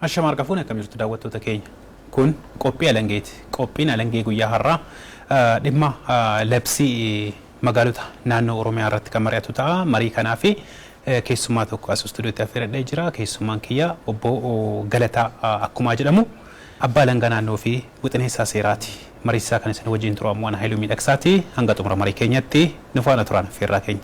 Ashama harka fuune akkam jirtu daawwattoota keenya. Kun qophii alangeeti. Qophiin alangee guyyaa har'aa dhimma labsii magaalota naannoo Oromiyaa irratti kan mari'atu ta'a. Marii kanaaf keessummaa tokko as istuudiyootti affeeradhee jira. Keessummaan kiyya obbo Galataa Akkumaa jedhamu. Abbaa Alangaa Naannoo fi Wixineessaa Seeraati. Mariisisaa kan isin wajjin turu ammoo ana Hayiluu Miidhaksaati. Hanga xumura marii keenyatti nu faana turaan affeerraa keenya.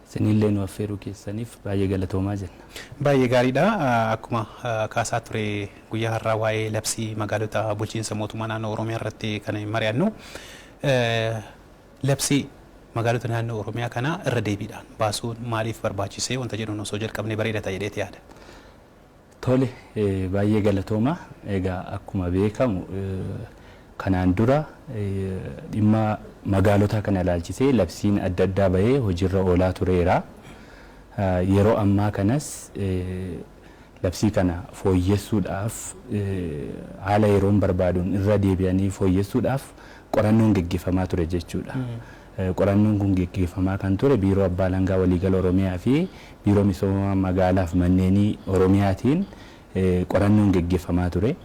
Isinillee nu affeeruu keessaniif baay'ee galatoomaa jenna. Baay'ee gaariidha. Akkuma kaasaa ture guyyaa har'aa waa'ee labsii magaalota bulchiinsa mootummaa naannoo Oromiyaa irratti kan mari'annu. Labsii magaalota naannoo Oromiyaa kana irra deebiidhaan baasuun maaliif barbaachise wanta jedhuun osoo jalqabnee bareeda ta'a jedheeti yaada. Tole baay'ee galatooma. Egaa akkuma beekamu kanaan dura dhimma magaalotaa kana ilaalchisee labsiin adda addaa bahee hojiirra oolaa tureera. Yeroo ammaa kanas labsii kana fooyyessuudhaaf haala yeroon barbaaduun irra deebi'anii fooyyessuudhaaf qorannoon geggeeffamaa ture jechuudha. Qorannoon kun geggeeffamaa kan ture Biiroo Abbaa Alangaa Waliigala Oromiyaa fi Biiroo Misooma Magaalaa fi Manneenii Oromiyaatiin qorannoon geggeeffamaa ture.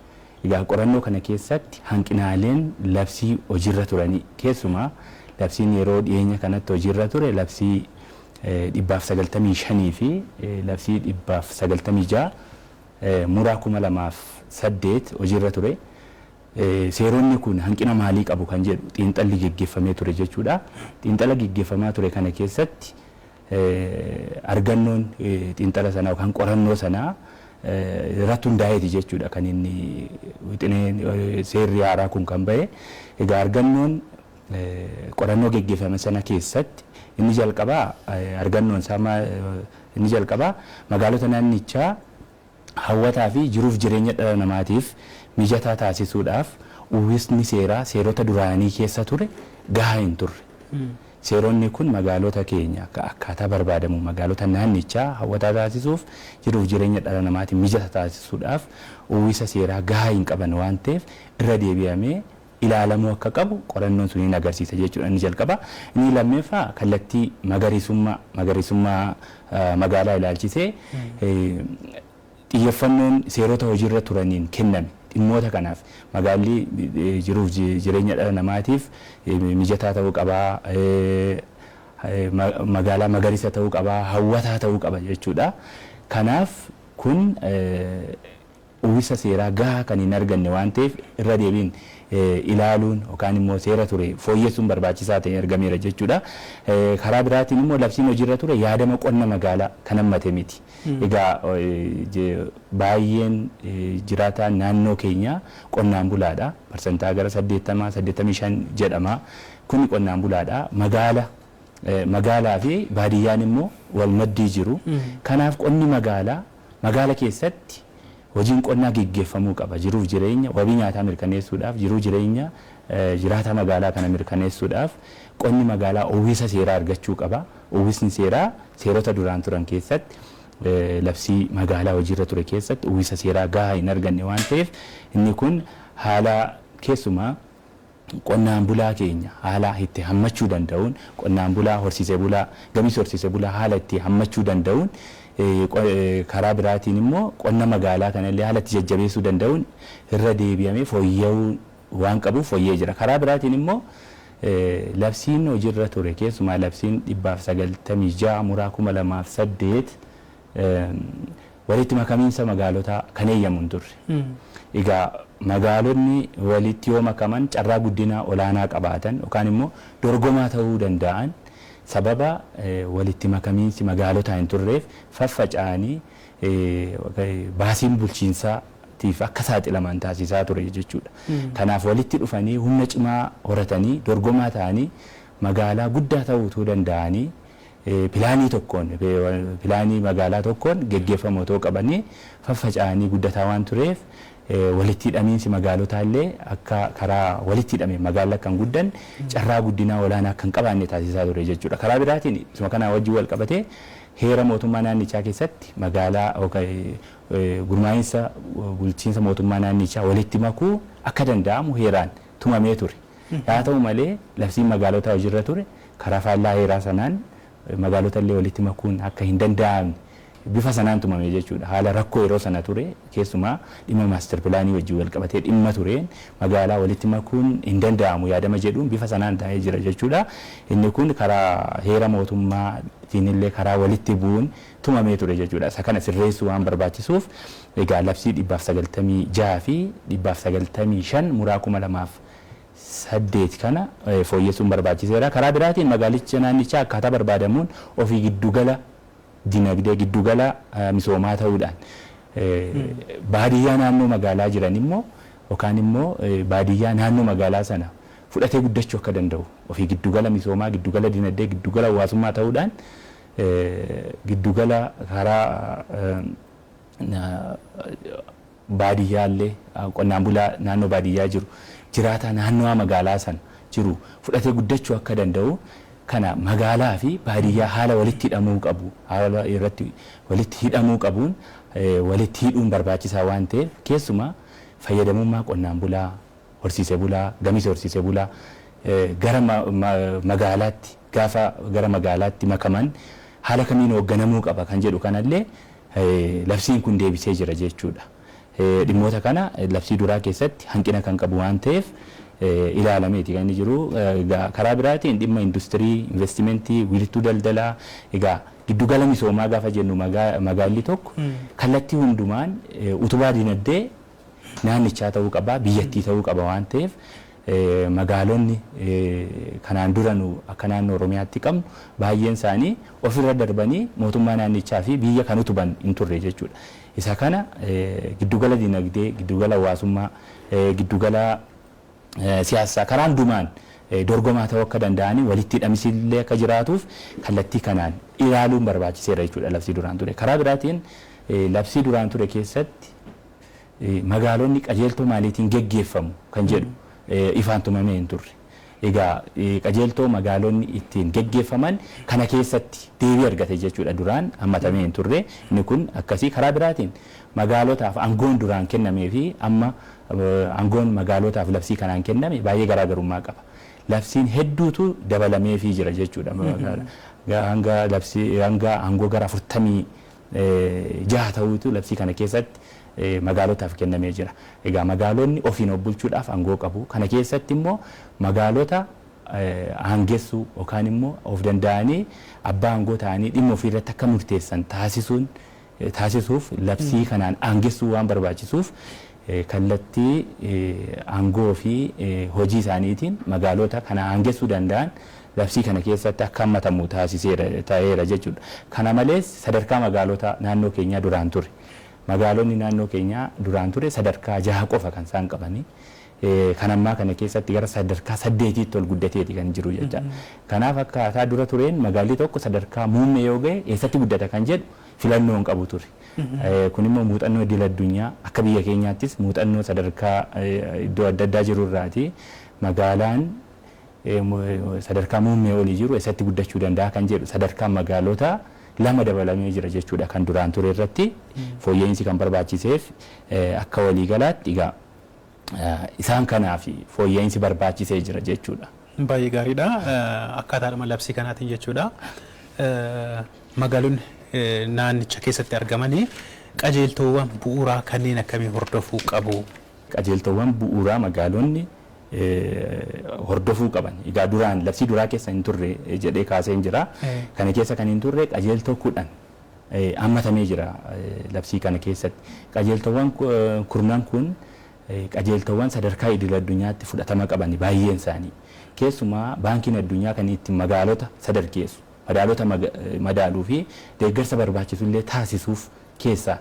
Egaa qorannoo kana keessatti hanqinaaleen labsii hojiirra turanii keessumaa labsiin yeroo dhiyeenya kanatti hojiirra ture labsii 195 fi labsii 196 Muraa 2008 hojiirra ture. Seeronni kun hanqina maalii qabu kan jedhu xiinxalli geggeffamee ture jechuudha. Xiinxala geggeffamaa ture kana keessatti argannoon xiinxala sanaa yookaan qorannoo sanaa irratti hundaa'eeti jechuudha kan inni wixineen seerri haaraa kun kan ba'e. Egaa argannoon qorannoo geggeffame sana keessatti inni jalqabaa argannoon isaa inni jalqabaa magaalota naannichaa hawwataa fi jiruuf jireenya dhala namaatiif mijataa taasisuudhaaf uwwisni seeraa seerota duraanii keessa ture gahaa hin turre. Seeronni kun magaalota keenya akkaataa barbaadamuun magaalota naannichaa hawwataa taasisuuf jiruuf jireenya dhala namaatiif mijata taasisuudhaaf uwwisa seeraa gahaa hin qaban waan ta'eef irra deebi'amee ilaalamuu akka qabu qorannoon suni ni agarsiisa jechuudha inni jalqabaa. Inni lammeeffaa kallattii magariisummaa magariisummaa magaalaa ilaalchisee xiyyeffannoon seerota hojiirra turaniin kenname dhimmoota kanaaf magaalli jiruuf jireenya dhala namaatiif mijataa ta'uu qaba, magaalaa magariisa ta'uu qaba, hawwataa ta'uu qaba jechuudha. Kanaaf kun uwwisa seeraa gahaa kan hin arganne waan ta'eef irra deebiin ilaaluun yookaan immoo seera ture fooyyessuun barbaachisaa ta'ee argameera jechuudha. Karaa biraatiin immoo labsiin hojiirra ture yaadama qonna magaalaa kan hammate miti. Egaa baay'een jiraataan naannoo keenyaa qonnaan bulaadha. Parsantaa gara 80, 85 jedhama. Kuni qonnaan bulaadha. Magaala magaalaa fi baadiyyaan immoo wal maddii jiru. Kanaaf qonni magaalaa Magaala keessatti hojiin qonnaa geggeeffamuu qaba. Jiruuf jireenya wabii nyaataa mirkaneessuudhaaf, jiruu jireenya jiraataa magaalaa kana mirkaneessuudhaaf qonni magaalaa uwwisa seeraa argachuu qaba. Uwwisni seeraa seerota duraan turan keessatti labsii magaalaa hojiirra ture keessatti uwwisa seeraa gahaa hin arganne waan ta'eef inni kun haala keessumaa Qonnaan bulaa keenya haala itti hammachuu danda'uun qonnaan bulaa horsiise bulaa gabis horsiise bulaa haala itti hammachuu danda'uun karaa biraatiin immoo qonna magaalaa kana illee haala itti jajjabeessuu danda'uun irra deebi'amee fooyya'uu waan qabuuf fooyya'ee jira. Karaa biraatiin immoo labsiin hojirra ture keessumaa labsiin 196 muraa 2008 walitti makamiinsa magaalotaa kan eeyyamu hin turre. Egaa magaalonni walitti yoo makaman carraa guddinaa olaanaa qabaatan yookaan immoo dorgomaa ta'uu dandaa'an sababa walitti makamiinsi magaalotaa hin turreef faffaca'anii baasiin bulchiinsaa tiif akka saaxilaman taasisaa ture jechuu dha. Kanaaf walitti dhufanii humna cimaa horatanii dorgomaa ta'anii magaalaa guddaa ta'uu utuu dandaa'anii pilaanii tokkoon, pilaanii magaalaa tokkoon geggeeffamu otoo qabanii faffaca'anii guddataa waan tureef walitti hidhamiinsi magaalotaa illee akka karaa walitti hidhameen magaalli akka hin guddanne, carraa guddinaa olaanaa akka hin qabaanne taasisaa ture jechuu dha. Karaa biraatiin isuma kanaa wajjin wal qabatee heera mootummaa naannichaa keessatti magaalaa gurmaa'insa bulchiinsa mootummaa naannichaa walitti makuu akka danda'amu heeraan tumamee ture. Haa ta'u malee, labsiin magaalotaa hojirra ture karaa faallaa heeraa sanaan magaalota illee walitti makuun akka hin danda'amne bifa sanaan tumame jechuudha. Haala rakkoo yeroo sana ture keessumaa dhimma master pilaanii wajjin wal qabatee dhimma tureen magaalaa walitti makuun hin danda'amu yaadama jedhuun bifa sanaan taa'ee jira jechuudha. Inni kun karaa heera mootummaa tiin illee karaa walitti bu'uun tumamee ture jechuudha. Isa kana sirreessuu waan barbaachisuuf egaa labsii 196 fi 195 muraa 2000 fi 8 kana fooyyessuun barbaachiseera. Karaa biraatiin magaalicha naannichaa akkaataa barbaadamuun ofii giddu gala dinagdee, giddu gala misoomaa ta'uudhaan baadiyyaa naannoo magaalaa jiran immoo yookaan immoo baadiyyaa naannoo magaalaa sana fudhatee guddachuu akka danda'u ofii giddu gala misoomaa, giddu gala dinagdee, giddu gala hawaasummaa ta'uudhaan giddu gala karaa baadiyyaa illee qonnaan bulaa naannoo baadiyyaa jiru jiraataa naannawaa magaalaa sana jiru fudhatee guddachuu akka danda'u kana magaalaa fi baadiyyaa haala walitti hidhamuu qabu haala irratti walitti hidhamuu qabuun walitti hidhuun barbaachisaa waan ta'eef keessumaa fayyadamummaa qonnaan bulaa horsiise bulaa gamiisa horsiise bulaa gara magaalaatti Gaafa gara magaalaatti makaman haala kamiin hoogganamuu qaba kan jedhu kanallee labsiin kun deebisee jira jechuudha. Dhimmoota kana labsii duraa keessatti hanqina kan qabu waan ta'eef ilaalameeti kan inni jiru. Egaa karaa biraatiin dhimma industirii, investimentii, wiirtuu daldalaa, egaa giddu gala misoomaa gaafa jennu magaalli tokko kallattii hundumaan utubaa dinagdee naannichaa ta'uu qaba, biyyattii ta'uu qaba waan ta'eef magaalonni kanaan dura nu akka naannoo Oromiyaatti qabnu baay'een isaanii ofirra darbanii mootummaa naannichaa fi biyya kan utuban hin turre jechuudha. Isa kana giddugala dinagdee, giddugala hawaasummaa, giddugala siyaassaa karaa hundumaan dorgomaa ta'uu akka danda'anii walitti hidhamiinsi illee akka jiraatuuf kallattii kanaan ilaaluun barbaachiseera jechuudha labsii duraan ture. Karaa biraatiin labsii duraan ture keessatti Magaalonni qajeeltoo maaliitiin geggeeffamu kan jedhu ifaan tumamee hin turre. Egaa qajeeltoo magaalonni ittiin geggeeffaman kana keessatti deebii argate jechuudha duraan hammatamee hin turre inni kun akkasii karaa biraatiin magaalotaaf angoon duraan kennamee fi amma angoon magaalotaaf labsii kanaan kenname baay'ee garaa garummaa qaba. Labsiin hedduutu dabalameefii jira jechuudha hanga labsii hanga angoo gara afurtamii jaha ta'uutu labsii kana keessatti magaalotaaf kennamee jira. Egaa magaalonni ofiin of bulchuudhaaf angoo qabu. Kana keessatti immoo magaalota aangessuu yookaan immoo of danda'anii abbaa angoo ta'anii dhimma ofii irratti akka murteessan taasisuun taasisuuf labsii kanaan aangessuu waan barbaachisuuf kallattii aangoo fi hojii isaaniitiin magaaloota kana aangessuu danda'an labsii kana keessatti akka hammatamu taasiseera, ta'eera jechuu dha. Kana malees sadarkaa magaalota naannoo keenyaa duraan ture. Magaalonni naannoo keenyaa duraan ture sadarkaa 6 qofa kan isaan qabanii. Kan ammaa kana keessatti gara sadarkaa 8tti ol guddatee ti kan jiru jecha. Kanaaf akkaataa dura tureen magaalli tokko sadarkaa muummee yoo ga'e eessatti guddata kan jedhu filannoo hin qabu ture. Kun immoo muuxannoo idil addunyaa akka biyya keenyaattis muuxannoo sadarkaa iddoo adda addaa jiru irraati. Magaalaan sadarkaa muummee olii jiru eessatti guddachuu danda'a kan jedhu sadarkaan magaalota lama dabalamee jira jechuudha kan duraan ture irratti fooyya'iinsi kan barbaachiseef akka waliigalaatti egaa Isaan kanaaf fooyya'insi barbaachisee jira jechuudha. Baay'ee gaariidha. Akkaataadhuma labsii kanaatiin jechuudha. Magaalonni naannicha keessatti argaman qajeeltoowwan bu'uuraa kanneen akkamii hordofuu qabu? Qajeeltoowwan bu'uuraa magaalonni hordofuu qaban. Egaa duraan labsii duraa keessa hin turre jedhee kaaseen jira. Kana keessa kan hin turre qajeeltoo 10. hammatamee jira. Labsii kana keessatti qajeeltoowwan kurnan kun qajeeltoowwan sadarkaa idil-addunyaatti fudhatama qabani baay'een isaanii. Keessumaa Baankiin Addunyaa kan itti magaalota sadarkeessu, madaalota madaaluu fi deeggarsa barbaachisu illee taasisuuf keessaa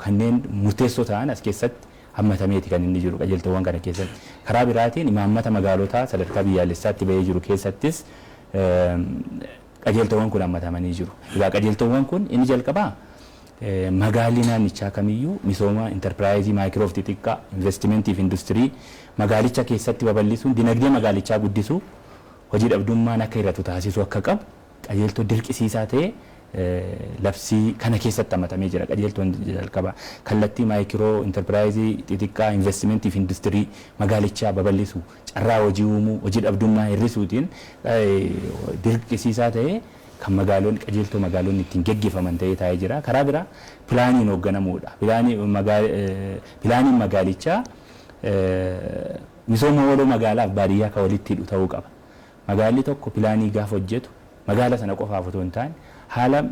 kanneen murteessoo ta'an as keessatti hammatameeti kan inni jiru qajeeltoowwan kana keessatti. Karaa biraatiin imaammata magaalotaa sadarkaa biyyaalessaatti ba'ee jiru keessattis Qajeeltoowwan kun hammatamanii jiru. Egaa qajeeltoowwan kun inni jalqabaa magaalli naannichaa kamiyyuu misooma interpiraayizii maayikiroo fi xixiqqaa, investimentii fi industirii magaalicha keessatti babal'isuun dinagdee magaalichaa guddisuu, hojii dhabdummaan akka hir'atu taasisuu akka qabu qajeeltoo dirqisiisaa ta'e labsii kana keessatti hammatamee jira. Qajeeltoon jalqabaa kallattii maayikiroo interpiraayizii xixiqqaa, investimentii fi industirii magaalichaa babal'isu. carraa hojii uumuu, hojii dhabdummaa hir'isuutiin dirqisiisaa ta'ee kan magaalonni qajeeltoo magaalonni ittiin geggeeffaman ta'ee taa'ee jira. Karaa biraa pilaaniin hoogganamuudha. Pilaaniin magaalichaa misooma waloo magaalaaf baadiyyaa kan walitti hidhu ta'uu qaba. Magaalli tokko pilaanii gaafa hojjetu magaala sana qofaaf otoo hin taane haala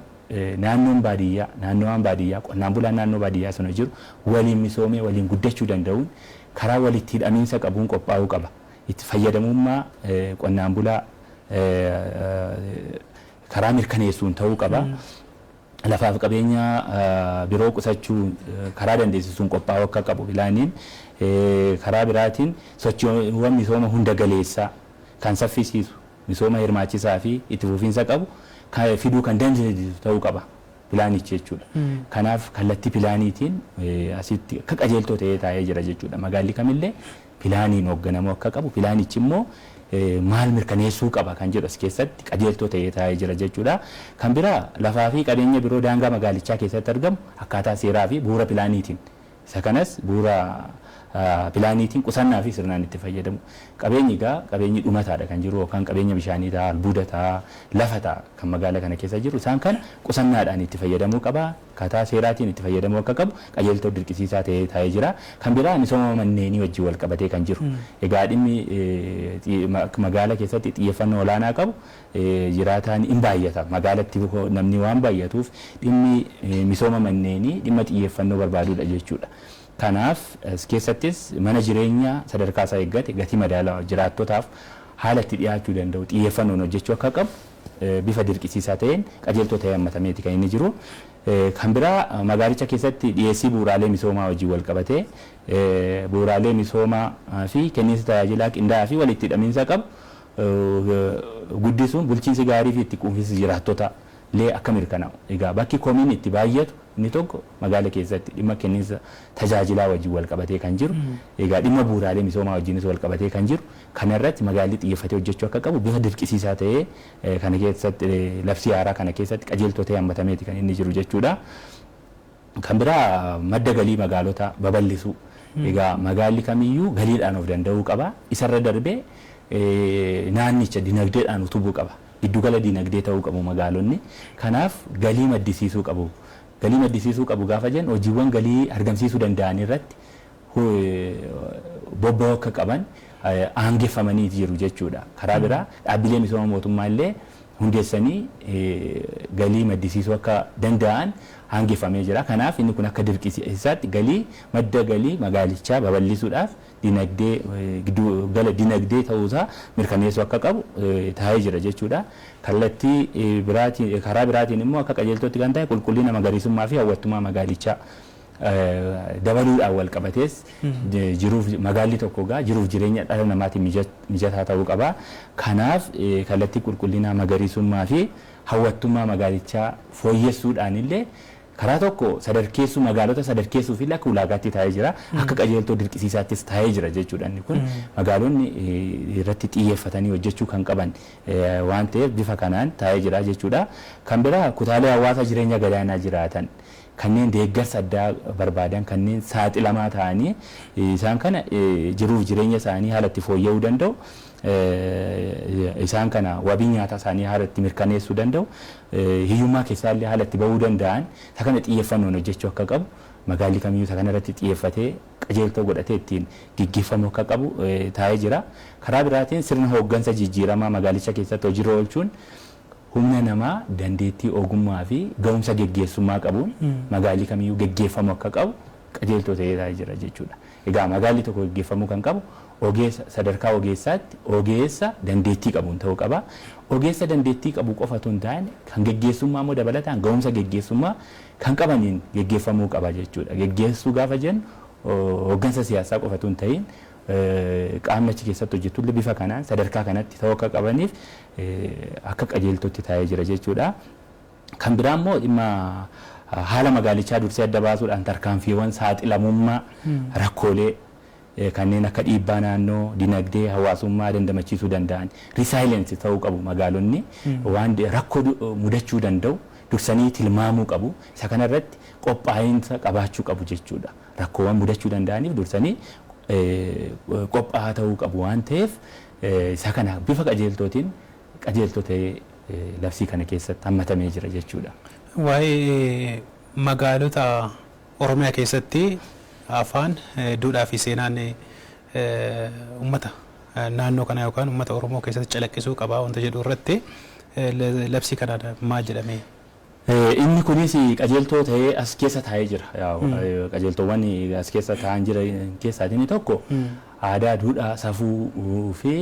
naannoon baadiyyaa, naannawaan baadiyyaa, qonnaan bulaan naannoo baadiyyaa sana jiru waliin misoomee waliin guddachuu danda'uun karaa walitti hidhamiinsa qabuun qophaa'uu qaba. Itti fayyadamummaa qonnaan bulaa karaa mirkaneessuun ta'uu qaba. Lafaaf qabeenya biroo qusachuu karaa dandeessisuun qophaa'uu akka qabu pilaaniin karaa biraatiin sochiiwwan misooma hunda galeessaa kan saffisiisu, misooma hirmaachisaa fi itti fufiinsa qabu fiduu kan dandeessisu ta'uu qaba pilaanichi jechuudha. Kanaaf kallattii pilaaniitiin asitti akka qajeeltoo ta'ee taa'ee jira jechuudha. Magaalli kamillee pilaaniin hoogganamuu akka qabu, pilaanichi immoo maal mirkaneessuu qaba kan jedhu as keessatti qajeeltoo ta'ee taa'ee jira jechuudha. Kan biraa lafaa fi qabeenya biroo daangaa magaalichaa keessatti argamu akkaataa seeraa fi bu'uura pilaaniitiin Isa kanas bu'uura pilaaniitiin qusannaa fi sirnaan itti fayyadamu. Qabeenyi egaa qabeenyi dhumataa dha kan jiru yookaan qabeenya bishaanii ta'a, albuuda ta'a, lafa ta'a kan magaala kana keessa jiru. Isaan kana qusannaadhaan itti fayyadamuu qaba. Akkaataa seeraatiin itti fayyadamuu akka qabu qajeeltoo dirqisiisaa ta'ee taa'ee jira. Kan biraa misooma manneenii wajjin wal qabatee kan jiru. Egaa dhimmi magaala keessatti xiyyeeffannoo olaanaa qabu jiraataan in baay'ata. Magaalatti namni waan baay'atuuf dhimmi misooma manneenii dhimma xiyyeeffannoo barbaadudha jechuudha. Kanaaf as keessattis mana jireenya sadarkaasaa eeggate gatii madaalawa jiraattotaaf haala itti dhiyaachuu danda'u xiyyeeffannoon hojjechuu akka qabu bifa dirqisiisaa ta'een qajeeltoo ta'ee hammatameeti kan inni jiru. Kan biraa magaalicha keessatti dhiyeessii bu'uuraalee misoomaa wajjin walqabatee bu'uuraalee misoomaa fi kenniinsi tajaajilaa qindaa'aa fi walitti hidhamiinsa qabu guddisuun bulchiinsi gaarii fi itti quufinsi jiraattotaa lee akka mirkanaa'u. Egaa bakki komiin itti baayyatu inni tokko magaala keessatti dhimma kenninsa tajaajilaa wajjin wal qabatee kan jiru, egaa dhimma buuraalee misoomaa wajjinis wal qabatee kan jiru kana irratti magaalli xiyyeffatee hojjechuu akka qabu bifa dirqisiisaa ta'ee kana keessatti labsii haaraa kana keessatti qajeeltoo ta'ee hammatameeti kan inni jiru jechuudha. Kan biraa madda galii magaalota babal'isuu. Egaa magaalli kamiyyuu galiidhaan of danda'uu qaba. Isarra darbee naannicha dinagdeedhaan utubuu qaba. Giddugala dinagdee ta'uu qabu magaalonni. Kanaaf galii maddisiisuu qabu. Galii maddisiisuu qabu gaafa jennu hojiiwwan galii argamsiisuu danda'an irratti bobba'uu akka qaban aangeffamaniiti jiru jechuudha. Karaa biraa dhaabbilee misooma mootummaa illee hundeessanii galii maddisiisuu akka danda'an aangeffamee jira. Kanaaf inni kun akka dirqisiisaatti galii madda galii magaalichaa babal'isuudhaaf dinagdee giddu gala dinagdee ta'uusaa mirkaneessuu akka qabu taa'ee jira jechuudha. Kallattii biraatiin karaa biraatiin immoo akka qajeeltootti kan taa'e qulqullina magariisummaa fi hawwattummaa magaalichaa dabaluudhaan walqabatees jiruuf magaalli tokko egaa jiruuf jireenya dhala namaatiin mijataa ta'uu qaba. Kanaaf kallattii qulqullinaa, magariisummaa fi hawwattummaa magaalichaa fooyyessuudhaan illee karaa tokko sadarkeessuu magaalota sadarkeessuuf illee akka ulaagaatti taa'ee jira. Akka qajeeltoo dirqisiisaattis taa'ee jira jechuudha inni kun. Magaalonni irratti xiyyeeffatanii hojjechuu kan qaban waan ta'eef bifa kanaan taa'ee jira jechuudha. Kan biraa kutaalee hawaasaa jireenya gadaanaa jiraatan kanneen deeggarsa addaa barbaadan, kanneen saaxilamaa ta'anii isaan kana jiruuf jireenya isaanii haala itti fooyya'uu danda'u, isaan kana wabii nyaataa isaanii haala itti mirkaneessuu danda'u, hiyyummaa keessaa illee haala itti ba'uu danda'an isa kana xiyyeeffannoon hojjechuu akka qabu, magaalli kamiyyuu isa kana irratti xiyyeeffatee qajeeltoo godhatee ittiin geggeeffamuu akka qabu taa'ee jira. Karaa biraatiin sirna hooggansa jijjiiramaa magaalicha keessatti hojiirra oolchuun humna namaa dandeettii ogummaa fi gahumsa geggeessummaa qabuun magaalli kamiyyuu geggeeffamuu akka qabu qajeeltoo ta'ee taa'ee jira jechuu dha. Egaa magaalli tokko geggeeffamuu kan qabu ogeessa sadarkaa ogeessaatti ogeessa dandeettii qabuun ta'uu qaba. Ogeessa dandeettii qabu qofa utuu hin taane kan geggeessummaa immoo dabalataan gahumsa geggeessummaa kan qabaniin geggeeffamuu qaba jechuu dha. Geggeessuu gaafa jennu hoggansa siyaasaa qofa utuu hin ta'iin qaamni achi keessatti hojjetu illee bifa kanaan sadarkaa kanatti ta'uu akka qabaniif akka qajeeltootti taa'ee jira jechuudha. Kan biraa immoo dhimma haala magaalichaa dursee adda baasuudhaan tarkaanfiiwwan saaxilamummaa rakkoolee kanneen akka dhiibbaa naannoo, dinagdee, hawaasummaa dandamachiisuu danda'an resilience ta'uu qabu magaalonni waan rakkoo mudachuu danda'u dursanii tilmaamuu qabu. Isa kanarratti qophaa'insa qabaachuu qabu jechuudha. Rakkoowwan mudachuu danda'aniif dursanii qophaa'aa ta'uu qabu waan ta'eef isaa kana bifa qajeeltootiin qajeeltoo ta'ee labsii kana keessatti hammatamee jira jechuu dha. Waa'ee magaalota Oromiyaa keessatti afaan, duudhaa fi seenaan uummata naannoo kanaa yookaan uummata Oromoo keessatti calaqqisuu qaba wanta jedhu irratti labsii kanaan maal jedhamee Inni kunis qajeeltoo ta'ee as keessa taa'ee jira. Qajeeltoowwan as keessa taa'an jiran keessaa inni tokko aadaa, duudhaa, safuu fi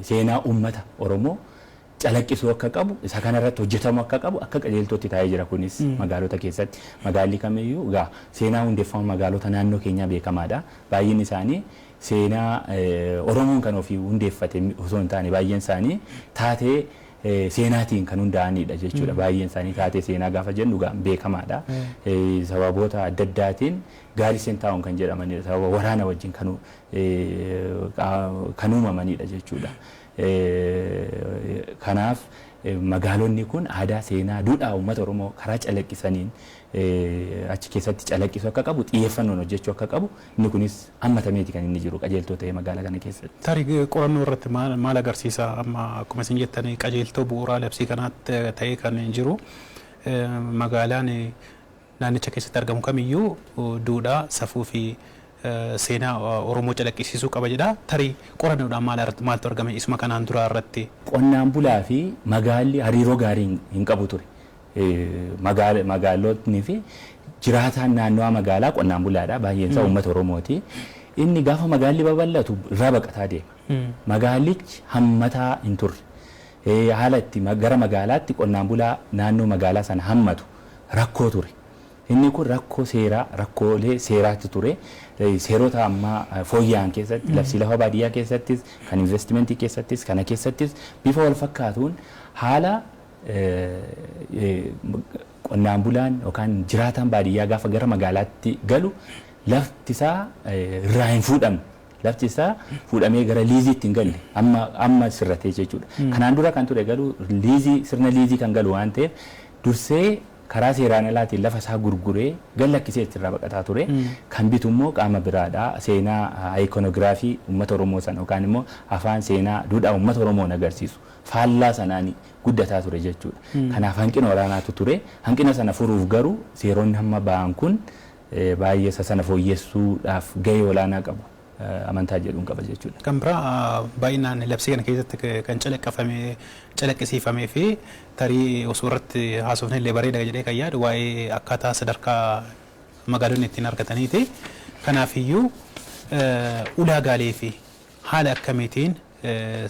seenaa uummata Oromoo calaqqisuu akka qabu, isa kanarratti hojjetamuu akka qabu akka qajeeltootti taa'ee jira kunis magaalota keessatti. Magaalli kamiyyuu egaa seenaa hundeeffama magaalota naannoo keenyaa beekamaadha. Baay'inni isaanii seenaa Oromoon kan ofii hundeeffate osoo hin taane baay'een isaanii taatee seenaatiin kan hundaa'aniidha jechuudha. Baay'een isaanii taatee seenaa gaafa jennu egaa beekamaadha. Sababoota adda addaatiin gaarisen taa'uun kan jedhamanidha. Sababa waraana wajjin kan uumamanidha jechuudha. Kanaaf magaalonni kun aadaa, seenaa, duudhaa uummata Oromoo karaa calaqqisaniin achi keessatti calaqqisu akka qabu xiyyeeffannoon hojjechuu akka qabu Inni kunis hammatameeti kan inni jiru qajeeltoo ta'ee magaala kana keessatti. Tarii qorannoo irratti maal agarsiisa? Amma akkuma isin jettan qajeeltoo bu'uuraa labsii kanaa ta'ee kan jiru magaalaan naannicha keessatti argamu kamiyyuu duudhaa, safuu fi seenaa Oromoo calaqqisiisuu qaba jedha. Tarii qorannoodhaan maaltu argame isuma kanaan duraa irratti? Qonnaan bulaa fi magaalli hariiroo gaarii hin qabu ture. Magaalotni fi jiraataan naannawaa magaalaa qonnaan bulaadha. Baay'een isaa uummata Oromooti. Inni gaafa magaalli babal'atu irraa baqataa deema. Magaallichi hammataa hin turre. Haala itti gara magaalaatti qonnaan bulaa naannoo magaalaa sana hammatu rakkoo ture. Inni kun rakkoo seeraa, rakkoolee seeraatti ture. Seerota ammaa fooyya'an keessatti, labsii lafa baadiyyaa keessattis, kan investimentii keessattis, kana keessattis bifa wal fakkaatuun haala Qonnaan bulaan yookaan jiraataan baadiyyaa gaafa gara magaalaatti galu lafti isaa irraa hin fuudhamne. Lafti isaa fuudhamee gara liiziitti hin galle. Amma amma sirratee jechuudha. Kanaan dura kan ture garuu liizii sirna liizii kan galu waan ta'eef dursee karaa seeraan alaatiin lafa isaa gurguree gad lakkisee achirraa baqataa ture. Kan bitu immoo qaama biraadha. Seenaa ikonogiraafii uummata Oromoo sana yookaan immoo afaan seenaa duudhaa uummata Oromoon agarsiisu. faallaa sanaan guddataa ture jechuudha. Kanaaf hanqina olaanaatu ture. Hanqina sana furuuf garuu seeronni hamma ba'an kun baay'ee isa sana fooyyessuudhaaf gahee olaanaa qabu amantaa jedhuun qaba jechuudha. Kan biraa baay'inaan labsii kana keessatti kan calaqqafame, calaqqisiifamee fi tarii osoo irratti haasofne illee bareeda jedhee kan yaadu waa'ee akkaataa sadarkaa magaalonni ittiin argataniiti. Kanaafiyyuu ulaagaalee fi haala akkamiitiin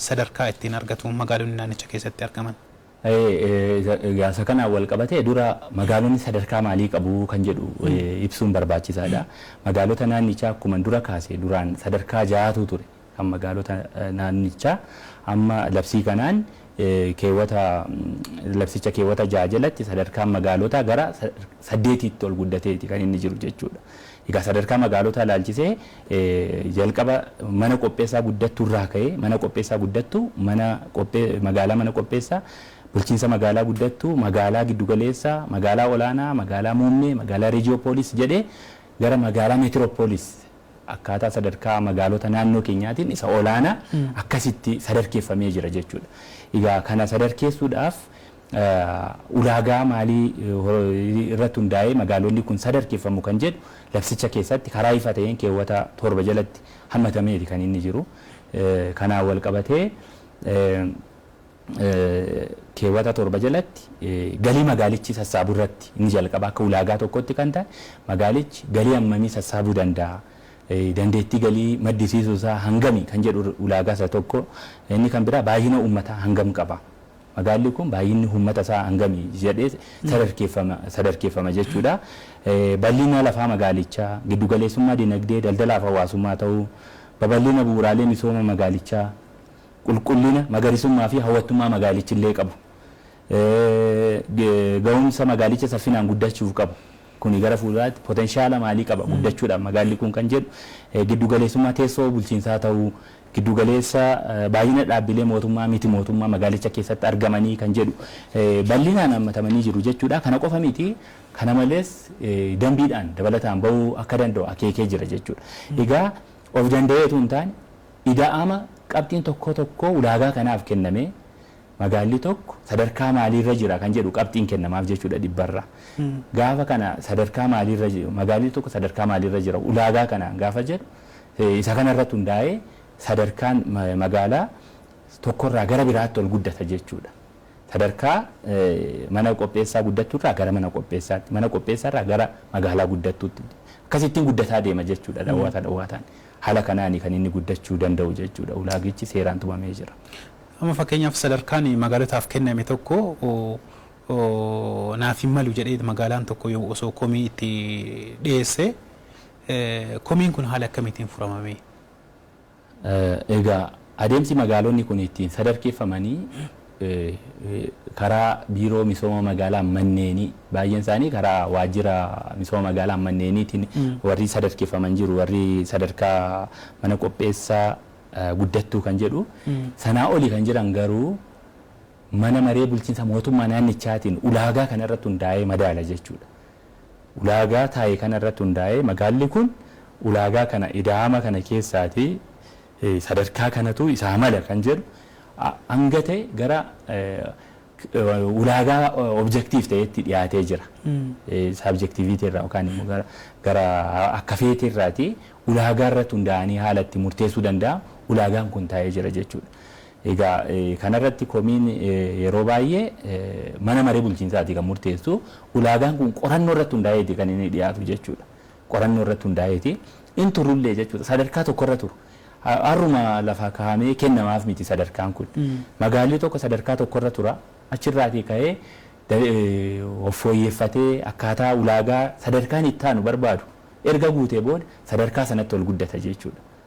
sadarkaa ittiin argatu magaalonni naannicha keessatti argaman? Gaafsa kanaan walqabatee dura magaalonni sadarkaa maalii qabu kan jedhu ibsuun barbaachisaadha. Magaalota naannichaa akkuman dura kaase duraan sadarkaa ja'atu ture kan magaalota naannichaa. Amma labsii kanaan keewwata labsicha keewwata ja'a jalatti sadarkaan magaalotaa gara saddeetiitti ol guddateeti kan inni jiru jechuudha. Egaa sadarkaa magaalotaa ilaalchisee jalqaba mana qopheessaa guddattuu irraa ka'ee mana qopheessaa guddattuu, mana magaalaa mana qopheessaa, bulchiinsa magaalaa guddattuu, magaalaa giddu galeessa, magaalaa olaanaa, magaalaa muummee, magaalaa rejiyoopoolis jedhee gara magaalaa meetiroopoolis akkaataa sadarkaa magaalota naannoo keenyaatiin isa olaanaa akkasitti sadarkeeffamee jira jechuudha. Egaa kana sadarkeessuudhaaf ulaagaa maalii irratti hundaa'ee magaalonni kun sadarkeffamu kan jedhu labsicha keessatti karaa ifa ta'een keewwata 7 jalatti hammatameeti kan inni jiru. Kanaan walqabatee keewwata 7 jalatti galii magaalichi sassaabu irratti inni jalqaba akka ulaagaa tokkotti kan ta'e magaalichi galii hammamii sassaabuu danda'a? Dandeettii galii maddisiisuu isaa hangami kan jedhu ulaagaa isa tokko. Inni kan biraa baay'ina uummataa hangam qaba? Magaalli kun baay'inni uummata isaa hangami jedhee sadarkeeffama jechuudha. Bal'ina lafaa magaalichaa, giddu galeessummaa dinagdee, daldalaa fi hawaasummaa ta'uu, babal'ina bu'uuraalee misooma magaalichaa, qulqullina, magariisummaa fi hawwattummaa magaalichi illee qabu, ga'umsa magaalicha saffinaan guddachuuf qabu, kuni gara fuulduraatti potenshaala maalii qaba guddachuudhaaf magaalli kun kan jedhu, giddu galeessummaa teessoo bulchiinsaa ta'uu, Giddu galeessa baay'ina dhaabbilee mootummaa miti mootummaa magaalicha keessatti argamanii kan jedhu bal'inaan haammatamanii jiru jechuudha. Kana qofa miti kana malees dambiidhaan dabalataan ba'uu akka danda'u akeekee jira jechuudha. Egaa of danda'ee utuu hin taane ida'ama qabxiin tokkoo tokkoo ulaagaa kanaaf kennamee, magaalli tokko sadarkaa maaliirra jira kan jedhu qabxiin kennamaaf jechuudha dhibbarra. Gaafa kana sadarkaa maaliirra jiru magaalli tokko sadarkaa maaliirra jira ulaagaa kanaan gaafa jedhu isa kanarratti hundaa'ee sadarkaan magaalaa tokkorraa gara biraatti ol guddata jechuudha. Sadarkaa mana qopheessaa guddatturraa gara mana qopheessaatti mana qopheessaarraa gara magaalaa guddattuutti akkasittiin guddataa deema jechuudha dhawwaata dhawwaataan. Haala kanaani kan inni guddachuu danda'u jechuudha ulaagichi seeraan tumamee jira. Amma fakkeenyaaf sadarkaan magaalotaaf kenname tokko naaf hin malu jedhee magaalaan tokko yoo osoo komii itti dhiyeesse komiin kun haala akkamiitiin furama mee? Egaa adeemsi magaalonni kun ittiin sadarkeeffamanii karaa biiroo misooma magaalaa manneenii baay'een isaanii karaa waajjira misooma magaalaa manneeniitiin warri sadarkeeffaman jiru warri sadarkaa mana qopheessaa guddattuu kan jedhu sanaa oli kan jiran garuu mana maree bulchiinsa mootummaa naannichaatiin ulaagaa kana irratti hundaa'ee madaala jechuudha. Ulaagaa taa'e kana irratti hundaa'ee magaalli kun ulaagaa kana ida'ama kana keessaati sadarkaa kanatu isaa mala kan jedhu hanga ta'e gara ulaagaa objective ta'etti dhiyaatee jira. Subjectivity irraa yookaan immoo gara gara akka feete irraati ulaagaa irratti hundaa'anii haala itti murteessuu danda'a ulaagaan kun taa'ee jira jechuudha. Egaa kanarratti komiin yeroo baay'ee mana maree bulchiinsaati kan murteessu ulaagaan kun qorannoo irratti hundaa'eeti kan inni dhiyaatu jechuudha. qorannoo irratti hundaa'eeti in turullee jechuudha. Sadarkaa tokko irra turu. Har'uma lafaa kahamee kennamaaf miti sadarkaan kun. Magaalli tokko sadarkaa tokko irra tura. Achirraatii ka'ee of fooyyeffatee akkaataa ulaagaa sadarkaan itti aanu barbaadu erga guutee booda sadarkaa sanatti ol guddata jechuudha.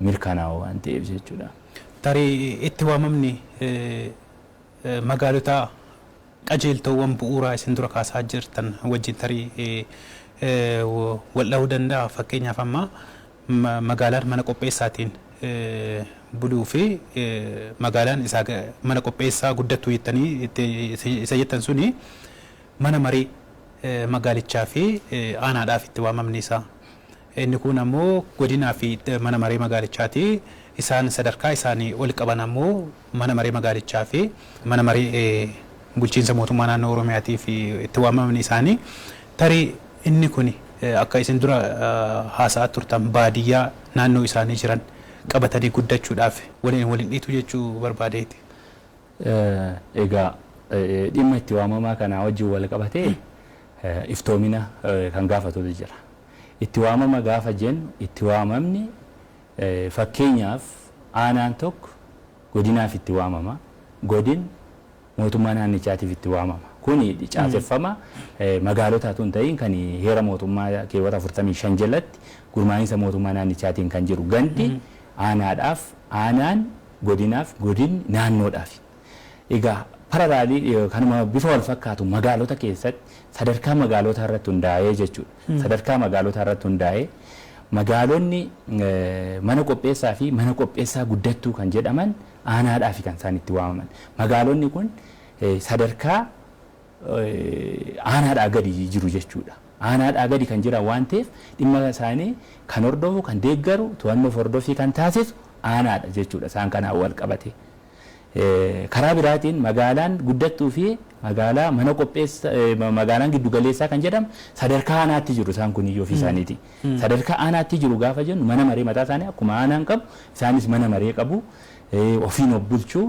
mirkanaa'oo waan ta'eef jechuudha. Tarii itti waamamni magaalotaa qajeeltoowwan bu'uuraa isin dura kaasaa jirtan wajjin tarii waldhahuu danda'a. Fakkeenyaaf amma magaalaan mana qopheessaatiin buluu fi magaalaan isaa mana qopheessaa guddattuu jettanii itti isa jettan suni mana marii magaalichaa fi aanaadhaaf itti waamamni isaa. Inni kuun ammoo godinaa fi mana maree magaalichaati. Isaan sadarkaa isaanii oli qaban ammoo mana maree magaalichaa fi mana maree bulchiinsa mootummaa naannoo Oromiyaatiif itti waamamni isaanii tarii inni kuni akka isin dura haasa'aa turtan baadiyyaa naannoo isaanii jiran qabatanii guddachuudhaaf waliin wal hin dhiitu jechuu barbaadeeti. Egaa dhimma itti waamamaa kanaa wajjin wal qabatee iftoomina kan gaafatutu jira. Itti waamama gaafa jennu itti waamamni fakkeenyaaf aanaan tokko godinaaf itti waamama, godin mootummaa naannichaatiif itti waamama. Kuni caaseffama magaalotaa utuu hin ta'iin kan heera mootummaa keewwata 45 jalatti gurmaa'insa mootummaa naannichaatiin kan jiru gandi aanaadhaaf, aanaan godinaaf, godinni naannoodhaafi. Egaa parallel kanuma bifa wal fakkaatuun magaalota keessatti sadarkaa magaalootaa irratti hundaa'ee jechuudha. Sadarkaa magaalootaa irratti hundaa'ee magaalonni mana qopheessaa fi mana qopheessaa guddattuu kan jedhaman aanaadhaafi kan isaan itti waamaman. Magaalonni kun sadarkaa aanaadhaa gadi jiru jechuudha. Aanaadhaa gadi kan jiran waan ta'eef dhimma isaanii kan hordofu, kan deeggaru, to'annoof hordoffii kan taasisu aanaadha jechuudha isaan kanaan wal qabatee. Karaa biraatiin magaalaan guddattuu fi magaalaa mana qopheessa magaalaan giddu galeessaa kan jedhamu sadarkaa aanaatti jiru isaan kun iyyuu ofii isaaniiti. Sadarkaa aanaatti jiru gaafa jennu mana maree mataa isaanii akkuma aanaan qabu isaanis mana maree qabu ofiin of bulchu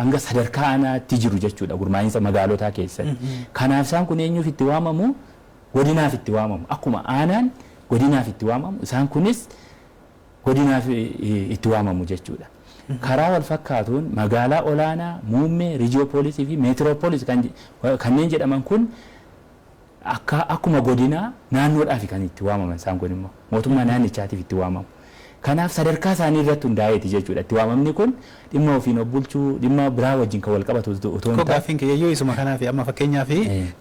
hanga sadarkaa aanaatti jiru jechuudha gurmaa'insa magaalotaa keessatti. Kanaaf isaan kun eenyuuf itti waamamu godinaaf itti waamamu akkuma aanaan godinaaf itti waamamu isaan kunis godinaaf itti waamamu jechuudha. Karaa wal fakkaatuun magaalaa olaanaa, muummee, rijiyoopoolisii fi meetiroopolis kanneen jedhaman kun akka akkuma godinaa naannoodhaafi kan itti waamaman isaan kun immoo mootummaa naannichaatiif itti waamamu. Kanaaf sadarkaa isaanii irratti hundaa'eeti jechuudha itti waamamni kun dhimma ofiin of bulchuu dhimma biraa wajjin kan wal qabatu otoo hin Koo taane. gaaffiin kiyyayyuu isuma kanaaf amma fakkeenyaaf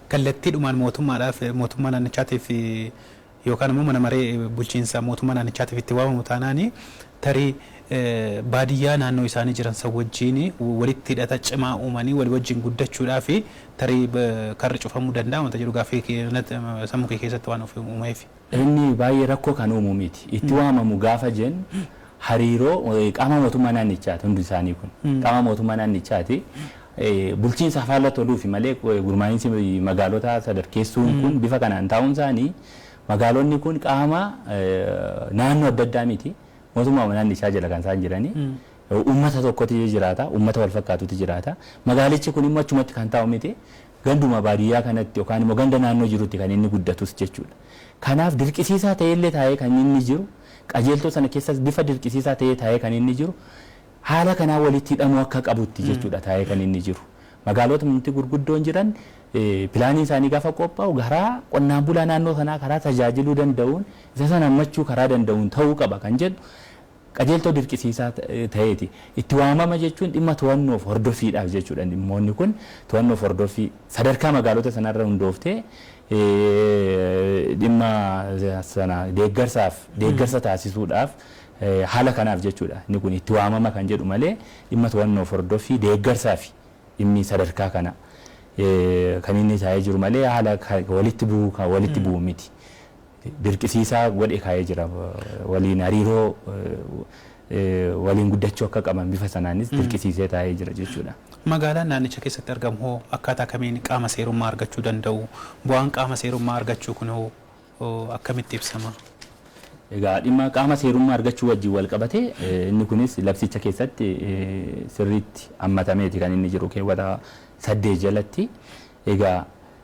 kallattiidhumaan mootummaadhaaf mootummaa naannichaatiif yookaan ammoo mana maree bulchiinsa mootummaa naannichaatiif itti waamamu taanaan tarii baadiyyaa naannoo isaanii jiran san wajjiin walitti hidhata cimaa uumanii walii wajjiin guddachuudhaafi tarii karri cufamuu danda'a wanta jedhu gaaffii sammuu kee keessatti waan uuma'eefi. Inni baay'ee rakkoo kan uumu miti. Itti waamamu gaafa jennu hariiroo qaama mootummaa naannichaati hundi isaanii kun. Qaama mootummaa naannichaati. Bulchiinsa faallatti ooluufi malee gurmaa'insi magaalotaa sadarkeessuun kun bifa kanaan taa'uun isaanii magaalonni kun qaama naannoo adda addaa miti. Mootummaa naannichaa jala kan isaan jiranii. Uummata tokkotu jiraata. Uummata wal fakkaatutu jiraata. Magaalichi kun immoo achumatti kan taa'u miti. Ganduma baadiyyaa kanatti yookaan immoo ganda naannoo jirutti kan inni guddatus jechuudha. Kanaaf dirqisiisaa ta'eellee taa'ee kan inni jiru Qajeeltoo sana keessas bifa dirqisiisaa ta'ee taa'ee kan inni jiru haala kanaa walitti hidhamuu akka qabutti jechuudha taa'ee kan inni jiru. Magaalotni nuti gurguddoon jiran pilaaniin isaanii gaafa qophaa'u karaa qonnaan bulaa naannoo sanaa karaa tajaajiluu danda'uun isa sana hammachuu karaa danda'uun ta'uu qaba kan jedhu qajeeltoo dirqisiisaa ta'eeti. Itti waamama jechuun dhimma to'annoof hordoffiidhaaf jechuudha dhimmoonni kun to'annoof hordoffii sadarkaa magaalota sanarra hundooftee dhimma sana deeggarsaaf deeggarsa taasisuudhaaf haala kanaaf jechuudha inni kun itti waamama kan jedhu malee dhimma to'annoof hordoffii deeggarsaafi dhimmi sadarkaa kana kan inni taa'ee jiru malee haala walitti bu'uu walitti bu'u miti. dirqisiisaa godhe kaa'ee jira. Waliin hariiroo waliin guddachuu akka qaban bifa sanaanis dirqisiisee taa'ee jira jechuudha. Magaalaan naannicha keessatti argamu hoo akkaataa kamiin qaama seerummaa argachuu danda'u? Bu'aan qaama seerummaa argachuu kun hoo akkamitti ibsama? Egaa dhimma qaama seerummaa argachuu wajjin wal qabatee inni kunis labsicha keessatti sirriitti hammatameeti kan inni jiru keewwata saddeet jalatti. Egaa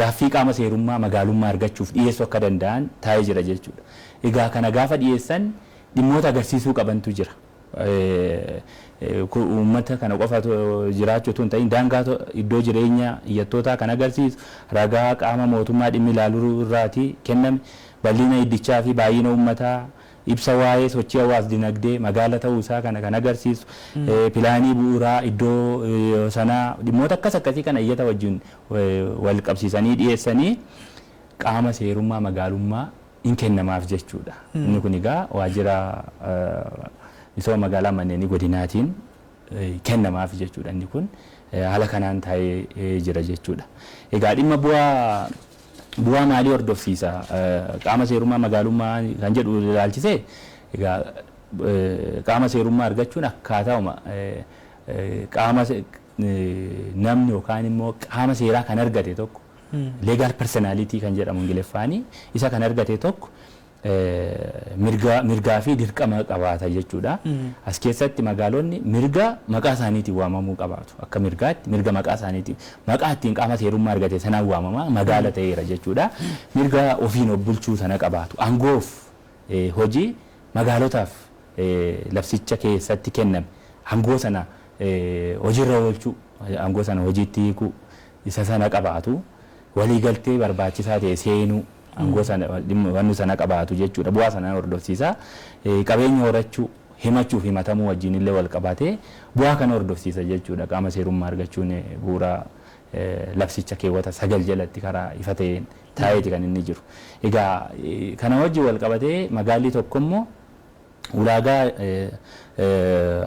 gaaffii qaama seerummaa magaalummaa argachuuf dhiyeessuu akka danda'an taa'ee jira jechuudha. Egaa kana gaafa dhiyeessan dhimmoota agarsiisuu qabantu jira. Uummata kana qofa jiraachuu utuu hin ta'in daangaa iddoo jireenya iyyattootaa kan agarsiisu ragaa qaama mootummaa dhimmi ilaalu irraati kenname bal'ina iddichaa fi baay'ina uummataa Ibsa waa'ee sochii hawaas-dinagdee magaala ta'uu isaa kana kan agarsiisu, pilaanii bu'uuraa iddoo sanaa, dhimmoota akkas akkasii kana iyyata wajjin wal qabsiisanii dhiyeessanii qaama seerummaa magaalummaa in kennamaaf jechuu dha. Inni kun egaa waajjira misooma magaalaa manneenii godinaatiin. kennamaafi jechuudha. Inni kun haala kanaan taa'ee jira jechuudha. Egaa dhimma bu'aa bu'aa maalii hordofsiisa qaama seerummaa magaalummaa kan jedhu ilaalchisee egaa qaama seerummaa argachuun akkaatauma qaama namni yookaan immoo qaama seeraa kan argate tokko legal personality kan jedhamu Ingiliffaani isa kan argate tokko mirga mirgaa fi dirqama qabaata jechuudha. As keessatti magaalonni mirga maqaa isaaniitiin waamamuu qabaatu. Akka mirgaatti mirga maqaa isaaniitiin maqaa ittiin qaama seerummaa argate sanaan waamama magaala ta'eera jechuudha. Mirga ofiin of bulchuu sana qabaatu. Aangoof eh, hojii magaalotaaf eh, labsicha keessatti kenname aangoo sana eh, hojiirra oolchuu aangoo sana hojiitti hiikuu isa sana qabaatu. Waliigaltee barbaachisaa ta'e seenuu Aangoo sana, dhimma, wanni sana qabaatu jechuu dha. Bu'aa sana ni hordofsiisa. Qabeenya horachuu, himachuu fi himatamuu wajjin illee wal qabatee bu'aa kana hordofsiisa jechuu dha. Qaama seerummaa argachuun bu'uura labsicha keewwata 9 jalatti karaa ifa ta'een taa'eeti kan inni jiru. Egaa kana wajjin wal qabatee magaallii tokko immoo ulaagaa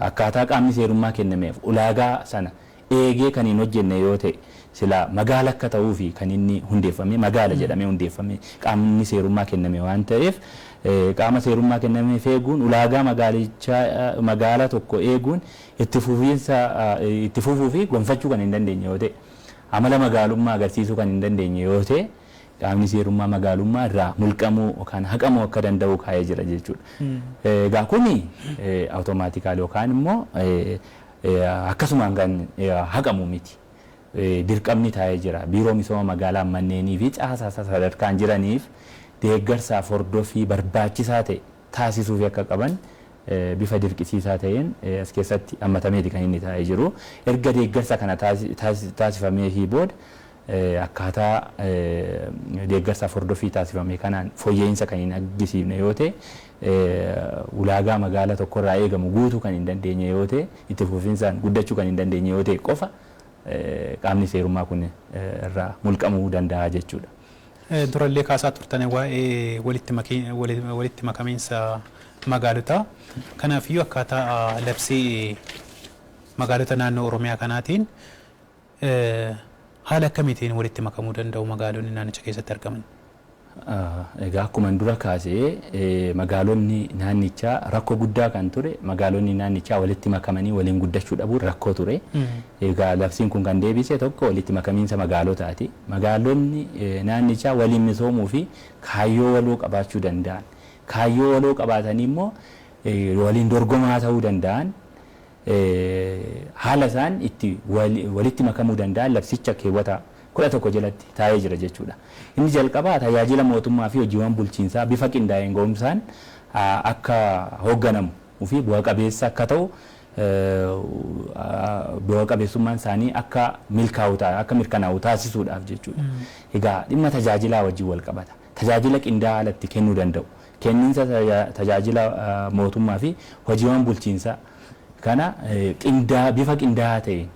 akkaataa qaamni seerummaa kennameef ulaagaa sana eegee kan hin hojjenne yoo ta'e silaa magaala akka ta'uufi kan inni hundeeffamee magaala jedhamee hundeeffamee qaamni seerummaa kenname waan ta'eef qaama seerummaa kennameef eeguun ulaagaa magaalichaa magaala tokko eeguun itti fufiinsa itti fufuufi gonfachuu kan hin dandeenye yoo ta'e amala magaalummaa agarsiisuu kan hin dandeenye yoo ta'e Qaamni seerummaa magaalummaa irraa mulqamuu yookaan haqamuu akka danda'u kaa'ee jira jechuudha. Egaa kuni awutomaatikaalii yookaan immoo akkasumaan kan haqamu miti. Dirqamni taa'ee jira. Biiroo Misooma Magaalaa Manneenii fi Caasaa isaa sadarkaan jiraniif deeggarsaaf hordoffii barbaachisaa ta'e taasisuufii akka qaban bifa dirqisiisaa ta'een as keessatti hammatameeti kan inni taa'ee jiru. Erga deeggarsa kana taasifameefii booda akkaataa deeggarsaaf hordoffii taasifame kanaan foyya'iinsa kan hin aggisiifne yoo ta'e, ulaagaa magaala tokko irraa eegamu guutuu kan hin dandeenye yoo ta'e, itti fufinsaan guddachuu kan hin dandeenye yoo ta'e qofa qaamni seerummaa kun irraa mulqamuu danda'a jechuu dha. Dura illee kaasaa turtan waa'ee walitti makamiinsa magaalotaa. Kanaaf iyyuu akkaataa labsii magaalota naannoo Oromiyaa kanaatiin, Haala akkamiitiin walitti makamuu danda'u magaalonni naannicha keessatti argaman? Egaa akkuman dura kaase magaalonni naannichaa rakkoo guddaa kan ture magaalonni naannichaa walitti makamanii waliin guddachuu dhabuun rakkoo ture. Egaa labsiin kun kan deebise tokko walitti makamiinsa magaalotaati. Magaalonni naannichaa waliin misoomuu fi kaayyoo waloo qabaachuu danda'an. Kaayyoo waloo qabaatanii immoo waliin dorgomaa ta'uu danda'an. haala isaan itti walitti makamuu danda'an labsicha keewwata 11 jalatti taa'ee jira jechuu dha. Inni jalqabaa tajaajila mootummaa fi hojiiwwan bulchiinsaa bifa qindaa'een ga'umsaan akka hoogganamu fi bu'a qabeessa akka ta'u bu'a qabeessummaan isaanii akka milkaa'u akka mirkanaa'u taasisuudhaaf jechuu dha. Egaa dhimma tajaajilaa wajjin wal qabata. Tajaajila qindaa'aa haala itti kennuu danda'u Kenninsa tajaajila mootummaa fi hojiiwwan bulchiinsaa kana bifa qindaa'aa ta'een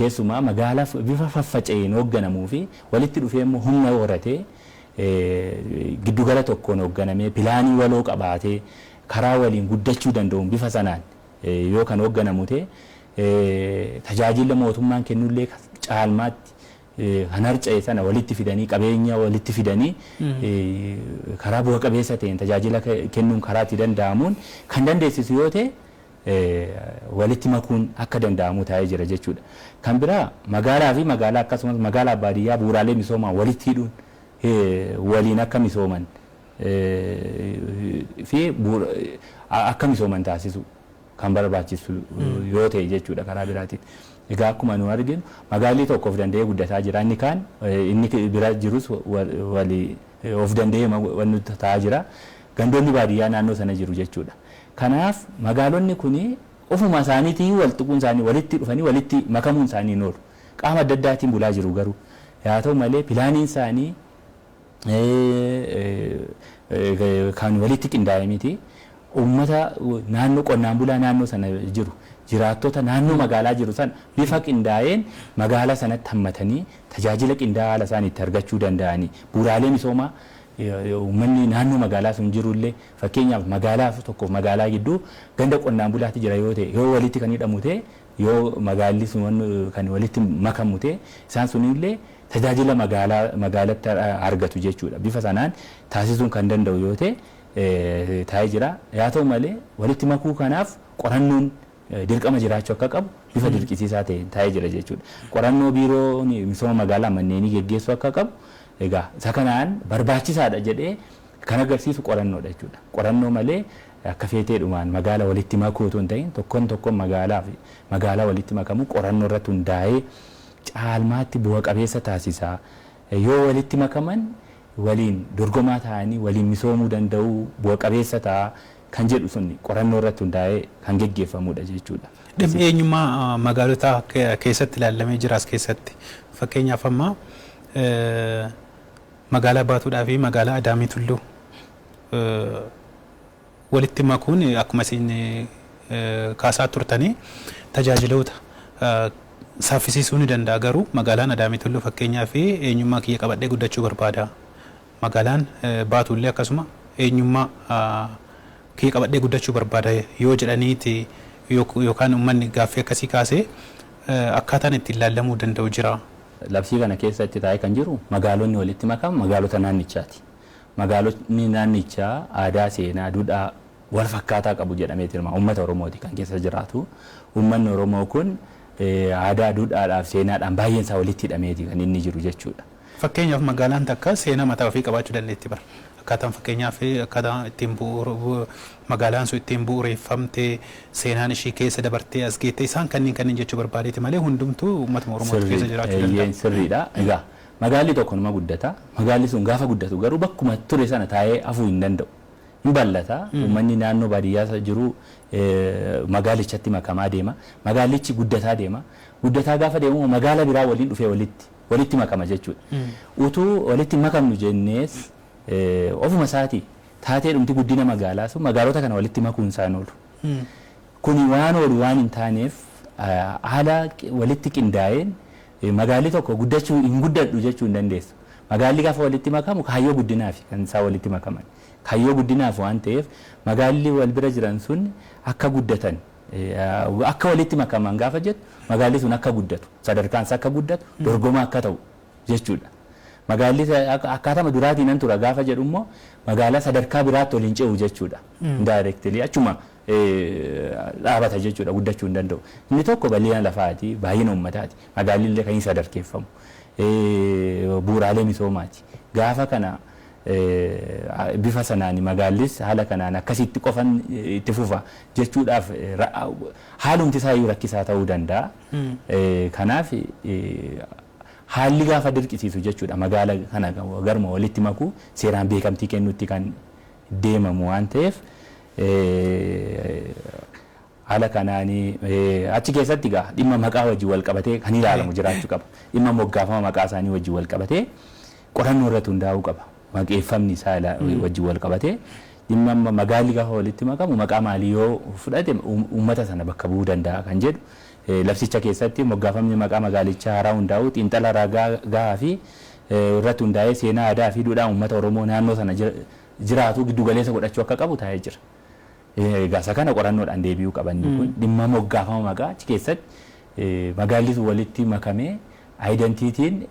keessumaa magaalaa bifa faffaca'een hoogganamuu fi walitti dhufee immoo humna horatee giddu gala tokkoon hoogganamee pilaanii waloo qabaatee karaa waliin guddachuu danda'uun bifa sanaan yoo kan hoogganamu ta'e tajaajilli mootummaan kennu illee caalmaatti kan harca'e sana walitti fidanii qabeenya walitti fidanii karaa bu'a qabeessa ta'een tajaajila kennuun karaa itti danda'amuun kan dandeessisu yoo ta'e walitti makuun akka danda'amu taa'ee jira jechuudha. Kan biraa magaalaa fi magaalaa akkasumas magaalaa baadiyyaa bu'uuraalee misoomaan walitti hidhuun waliin akka misooman fi akka misooman taasisuu. kan barbaachisu yoo ta'e jechuudha karaa biraatiin. Egaa akkuma nu arginu magaalli tokko of danda'ee guddataa jira inni kaan inni bira jirus wali of danda'ee wanni ta'aa jira. Gandoonni baadiyyaa naannoo sana jiru jechuudha. Kanaaf magaalonni kuni ofuma isaaniitiin wal tuquun isaanii walitti dhufanii walitti makamuun isaanii hin oolu. Qaama adda addaatiin bulaa jiru garuu. Yaa ta'u malee pilaaniin isaanii kan walitti qindaa'e miti. Uummata naannoo qonnaan bulaa naannoo sana jiru, jiraattota naannoo magaalaa jiru sana bifa qindaa'een magaalaa sanatti hammatanii tajaajila qindaa'aa haala isaan itti argachuu danda'anii, bu'uuraalee misoomaa uummanni naannoo magaalaa sun jiru illee fakkeenyaaf magaalaa tokkoo fi magaalaa gidduu ganda qonnaan bulaatu jira yoo ta'e, yoo walitti kan hidhamu ta'e, yoo magaalli sun kan walitti makamu ta'e isaan sun illee tajaajila magaalaa magaalatti argatu jechuudha. Bifa sanaan taasisuun kan danda'u yoo ta'e taa'ee jira. Yaa ta'u malee walitti makuu kanaaf qorannoon dirqama jiraachuu akka qabu bifa dirqisiisaa ta'een taa'ee jira jechuudha. Qorannoo biiroon misooma magaalaa manneenii geggeessuu akka qabu egaa isa kanaan barbaachisaadha jedhee kan agarsiisu qorannoodha jechuudha. Qorannoo malee akka feeteedhumaan magaala walitti makuu utuu hin ta'in tokkoon tokkoon magaalaa fi magaalaa walitti makamu qorannoo irratti hundaa'ee caalmaatti bu'a qabeessa taasisa. Yoo walitti makaman waliin dorgomaa ta'anii waliin misoomuu danda'u, bu'a qabeessa ta'a kan jedhu sun qorannoo irratti hundaa'ee kan geggeeffamudha jechuudha. Dhimmi eenyummaa magaalotaa keessatti ilaallamee jira as keessatti. Fakkeenyaaf amma magaalaa Baatuudhaafi magaalaa Adaamii Tulluu walitti makuun akkuma isin kaasaa turtanii tajaajiloota saaffisiisuu ni danda'a. Garuu magaalaan Adaamii Tulluu fakkeenyaaf eenyummaa kiyya qabadhee guddachuu barbaada. Magaalaan Baatuullee akkasuma eenyummaa kiyya qabadhee guddachuu barbaada yoo jedhaniiti yookaan ummanni gaaffii akkasii kaasee akkaataan ittiin laallamuu danda'u jira. Labsii kana keessa itti taa'ee kan jiru magaalonni walitti makaan magaalota naannichaati. Magaalotni naannichaa aadaa, seenaa, dudhaa walfakkaataa qabu jedhamee tilmaama. Uummata Oromooti kan keessa jiraatu. Uummanni Oromoo kun aadaa, dudhaadhaaf seenaadhaan baay'een isaa walitti hidhameeti kan inni jiru jechuudha. Fakkeenyaaf magaalaan takka seenaa mataa ofii qabaachuu dandeetti bar. Akkaataan fakkeenyaaf akkaataa ittiin magaalaan sun ittiin bu'ureeffamte, seenaan ishii keessa dabartee as geette isaan kanniin kanniin jechuu barbaadeeti malee hundumtuu uummatuma Oromooti keessa jiraachuu danda'a. Sirriidha. Egaa Magaalli tokko numa guddata. Magaalli sun gaafa guddatu garuu bakkuma ture sana taa'ee hafuu hin danda'u. Hin bal'ata. Uummanni naannoo baadiyyaa jiru magaalichatti makamaa deema. Magaallichi guddataa deema. Guddataa gaafa deemu immoo magaala biraa waliin dhufee walitti walitti makama jechuudha. Utuu walitti hin makamnu jennees ofuma isaatii taateedhumti guddina magaalaa sun magaalota kana walitti makuun isaa hin oolu. Kuni waan oolu waan hin taaneef haala walitti qindaa'een Magaalli tokko guddachuu hin guddadhu jechuu hin dandeessu. Magaalli gaafa walitti makamu kaayyoo guddinaafi kan isaan walitti makaman. Kaayyoo guddinaaf waan ta'eef magaalli wal bira jiran sun akka guddatan akka walitti makaman gaafa jettu magaalli sun akka guddatu sadarkaan isaa akka guddatu dorgomaa akka ta'u jechuudha. Magaalli akkaatama duraatiinan tura gaafa jedhummoo magaalaa sadarkaa biraatti ol hin ce'u jechuudha. Indirectly achuma dhaabata jechuudha, guddachuu hin danda'u. Inni tokko bal'ina lafaati, baay'ina uummataati, magaalli illee kan hin sadarkeeffamu, bu'uuraalee misoomaati. Gaafa kana bifa sanaan magaallis haala kanaan akkasitti qofan itti fufa jechuudhaaf haalumti isaa iyyuu rakkisaa ta'uu danda'a. Kanaaf haalli gaafa dirqisiisu jechuudha magaala kana garuma walitti makuu seeraan beekamtii kennuutti kan deemamu waan ta'eef Haala kanaan achi keessatti egaa dhimma maqaa wajjin walqabatee kan ilaalamu jiraachuu qaba. Dhimma moggaafama maqaa isaanii wajjin walqabatee qorannoo irratti hundaa'uu qaba. Maqeeffamni isaa wajjin walqabatee dhimma amma magaalli gaafa walitti makamu maqaa maalii yoo fudhate uummata sana bakka bu'uu danda'a kan jedhu labsicha keessatti moggaafamni maqaa magaalichaa haaraa hundaa'uu xiinxala ragaa gahaa fi irratti hundaa'ee seenaa aadaa fi duudhaa uummata Oromoo naannoo sana jiraatu giddu galeessa godhachuu akka qabu taa'ee jira. Egaa isa kana qorannoodhaan deebi'uu qaba inni kun dhimma moggaafama maqaa achi keessatti magaallitu walitti makamee ayidantiitiin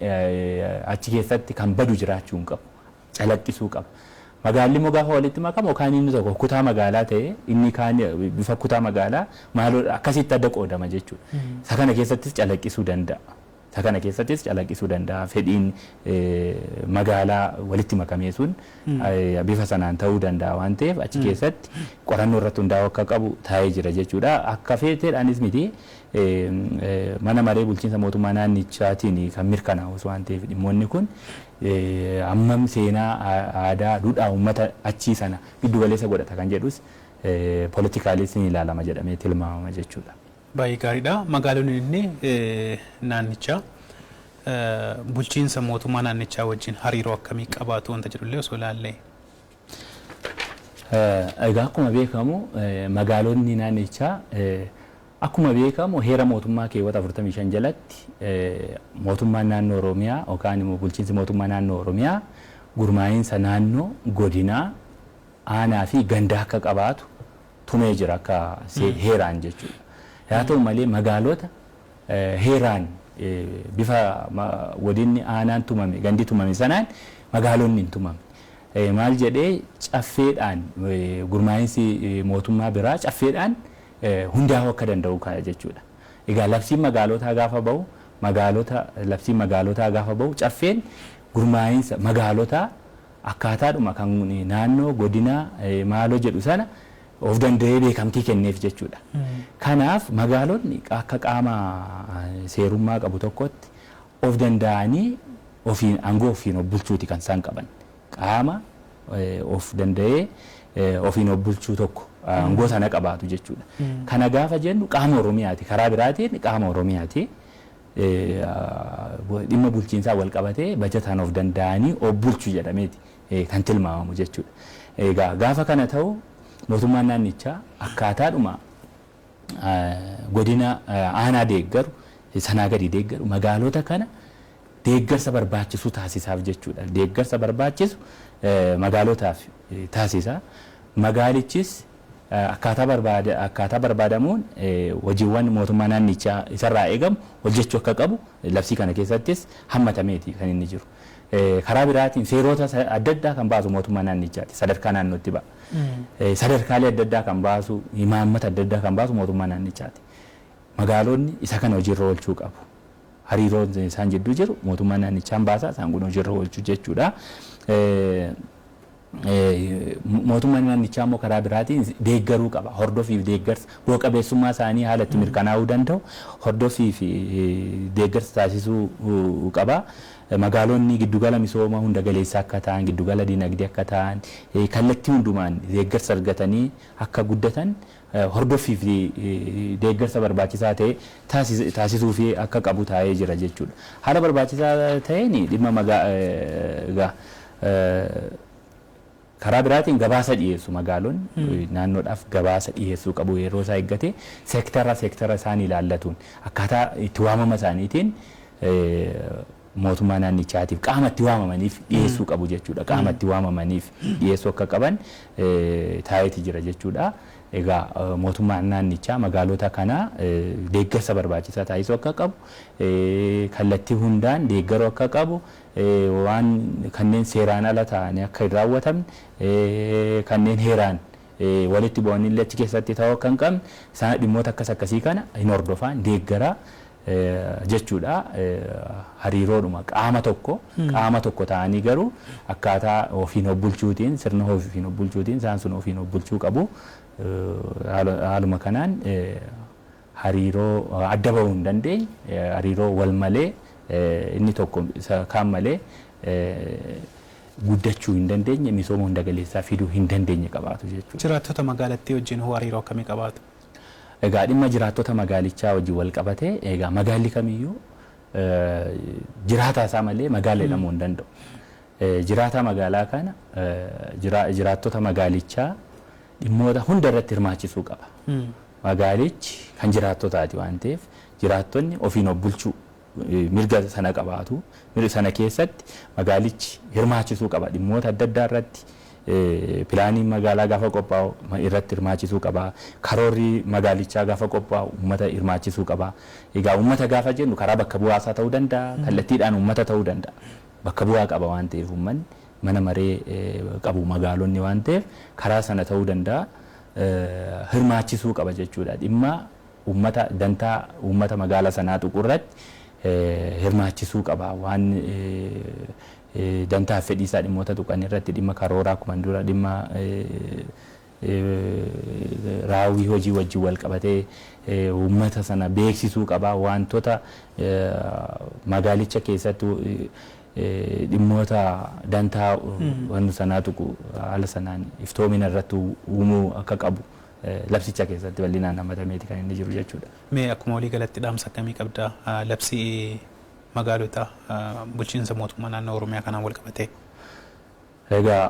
achi keessatti kan badu jiraachuu hin qabu. Calaqqisuu qaba. Magaalli immoo gaafa walitti makamu yookaan inni tokko kutaa magaalaa ta'e inni kaan bifa kutaa magaalaa maaloo akkasitti adda qoodama jechuudha. Isa kana keessattis calaqqisuu danda'a. Isa kana keessattis calaqqisuu danda'a. Fedhiin magaalaa walitti makamee sun bifa sanaan ta'uu danda'a waan ta'eef achi keessatti qorannoo irratti hundaa'uu akka qabu taa'ee jira jechuudha. Akka feeteedhaanis miti mana maree bulchiinsa mootummaa naannichaatiin kan mirkanaa'us waan ta'eef dhimmoonni kun hammam seenaa aadaa duudhaa uummata achii sana giddu galeessa godhata kan jedhus politikaalis ni ilaalama jedhamee tilmaamama jechuudha. Baay'ee gaariidha. Magaalonni inni naannichaa bulchiinsa mootummaa naannichaa wajjin hariiroo akkamii qabaatu wanta jedhu illee osoo ilaallee. Egaa akkuma beekamu magaalonni naannichaa akkuma beekamu heera mootummaa keewwata 45 jalatti mootummaan naannoo Oromiyaa yookaan immoo bulchiinsi mootummaa naannoo Oromiyaa gurmaa'iinsa naannoo godinaa aanaa fi ganda akka qabaatu tumee jira akka heeraan jechuudha. Haa ta'u malee magaalota heeraan bifa godinni aanaan tumame gandi tumame sanaan magaalonni hin tumamne. Maal jedhee caffeedhaan gurmaa'insi mootummaa biraa caffeedhaan hundaa'uu akka danda'u ka'a jechuudha. Egaa labsiin magaalotaa gaafa bahu magaalota labsiin magaalotaa gaafa bahu caffeen gurmaa'insa magaalotaa Akkaataadhuma kan naannoo, godinaa, maaloo jedhu sana of danda'ee beekamtii kenneef jechuudha. Kanaaf magaalonni akka qaama seerummaa qabu tokkootti of danda'anii ofiin aangoo ofiin of bulchuuti kan isaan qaban. Qaama of danda'ee ofiin of bulchuu tokko aangoo sana qabaatu jechuudha. Kana gaafa jennu qaama Oromiyaati. Karaa biraatiin qaama Oromiyaati. dhimma bulchiinsaan walqabatee bajataan of danda'anii of bulchu jedhameeti kan tilmaamamu jechuudha. Egaa gaafa kana ta'u mootummaan naannichaa akkaataadhuma godina aanaa deeggaru sanaa gadi deeggaru magaalota kana deeggarsa barbaachisu taasisaaf jechuudha. Deeggarsa barbaachisu magaalotaaf taasisa. Magaalichis akkaataa barbaadamuun hojiiwwan mootummaa naannichaa isarraa eegamu hojjechuu akka qabu labsii kana keessattis hammatameeti kan inni jiru. Karaa biraatiin seeroota adda addaa kan baasu mootummaa naannichaati. Sadarkaa naannootti ba'a. Sadarkaalee adda addaa kan baasu, imaammata adda addaa kan baasu mootummaa naannichaati. Magaalonni isa kana hojiirra oolchuu qabu. Hariiroon isaan jidduu jiru mootummaa naannichaan baasa, isaan kun hojiirra oolchu jechuudha. Mootummaan naannichaa immoo karaa biraatiin deeggaruu qaba. Hordofii fi deeggarsa bu'a qabeessummaa isaanii haala itti mirkanaa'uu danda'u hordofii fi deeggarsa taasisuu qaba. Magaalonni giddugala misooma hunda galeessa akka ta'an, giddugala dinagdee akka ta'an, kallattii hundumaan deeggarsa argatanii akka guddatan hordoffii fi deeggarsa barbaachisaa ta'e taasisuufii akka qabu taa'ee jira jechuu dha. Haala barbaachisaa ta'een dhimma magaa Karaa biraatiin gabaasa dhiyeessu magaalonni naannoodhaaf gabaasa dhiyeessuu qabu yeroo isaa eeggatee seektara seektara isaan ilaallatuun akkaataa itti waamama isaaniitiin mootummaa naannichaatiif qaama itti waamamaniif dhiyeessuu qabu jechuudha. Qaama itti waamamaniif dhiyeessuu akka qaban taa'eeti jira jechuudha. Egaa mootummaan naannichaa magaalota kana deeggarsa barbaachisaa taasisuu akka qabu, kallattii hundaan deeggaruu akka qabu, waan kanneen seeraan ala ta'anii akka hin raawwatamne, kanneen heeraan walitti bu'anillee achi keessatti ta'uu akka hin qabne, dhimmoota akkas akkasii kana hin hordofaa, hin deeggaraa, jechuudha. Hariiroodhuma qaama tokko qaama tokko ta'anii garuu akkaataa ofiin of bulchuutiin sirna ofiin of bulchuutiin isaan sun ofiin of bulchuu qabu. Haaluma kanaan hariiroo adda bahuu hin dandeenye hariiroo wal malee inni tokko isa kaan malee guddachuu hin dandeenye misooma hunda galeessaa fiduu hin dandeenye qabaatu jechuudha. Jiraattota magaalattii wajjin hoo hariiroo akkamii qabaatu? Egaa dhimma jiraattota magaalichaa wajjin walqabatee egaa magaalli kamiyyuu jiraataa isaa malee magaala jedhamuu hin danda'u. Jiraataa magaalaa kana jiraattota magaalichaa dhimmoota hunda irratti hirmaachisuu qaba. Magaalichi kan jiraattotaati waan ta'eef jiraattonni ofiin of bulchuu mirga sana qabaatu. Mirga sana keessatti magaalichi hirmaachisuu qaba. Dhimmoota adda addaa irratti pilaaniin magaalaa gaafa qophaa'u irratti hirmaachisuu qaba. Karoorri magaalichaa gaafa qophaa'u uummata hirmaachisuu qaba. Egaa uummata gaafa jennu karaa bakka bu'aa isaa ta'uu danda'a, kallattiidhaan uummata ta'uu danda'a. Bakka bu'aa qaba waan ta'eef uummanni mana maree qabu magaalonni waan ta'eef karaa sana ta'uu danda'a hirmaachisuu qaba jechuudha. Dhimma Uummata dantaa uummata magaala sanaa tuqu irratti hirmaachisuu qaba. Waan dantaa fi fedhii isaa dhimmoota tuqan irratti dhimma karooraa akkuman dura dhimma raawwii hojii wajjin wal qabatee uummata sana beeksisuu qaba. Waantota magaalicha keessatti dhimmoota dantaa wannu sanaa tuqu haala sanaan iftoomina irratti uumuu akka qabu labsicha keessatti bal'inaan hammatameeti kan inni jiru jechuudha. Mee akkuma walii galatti dhaamsa akkamii qabda labsii magaalota bulchiinsa mootummaa naannoo Oromiyaa kanaan wal qabatee? Egaa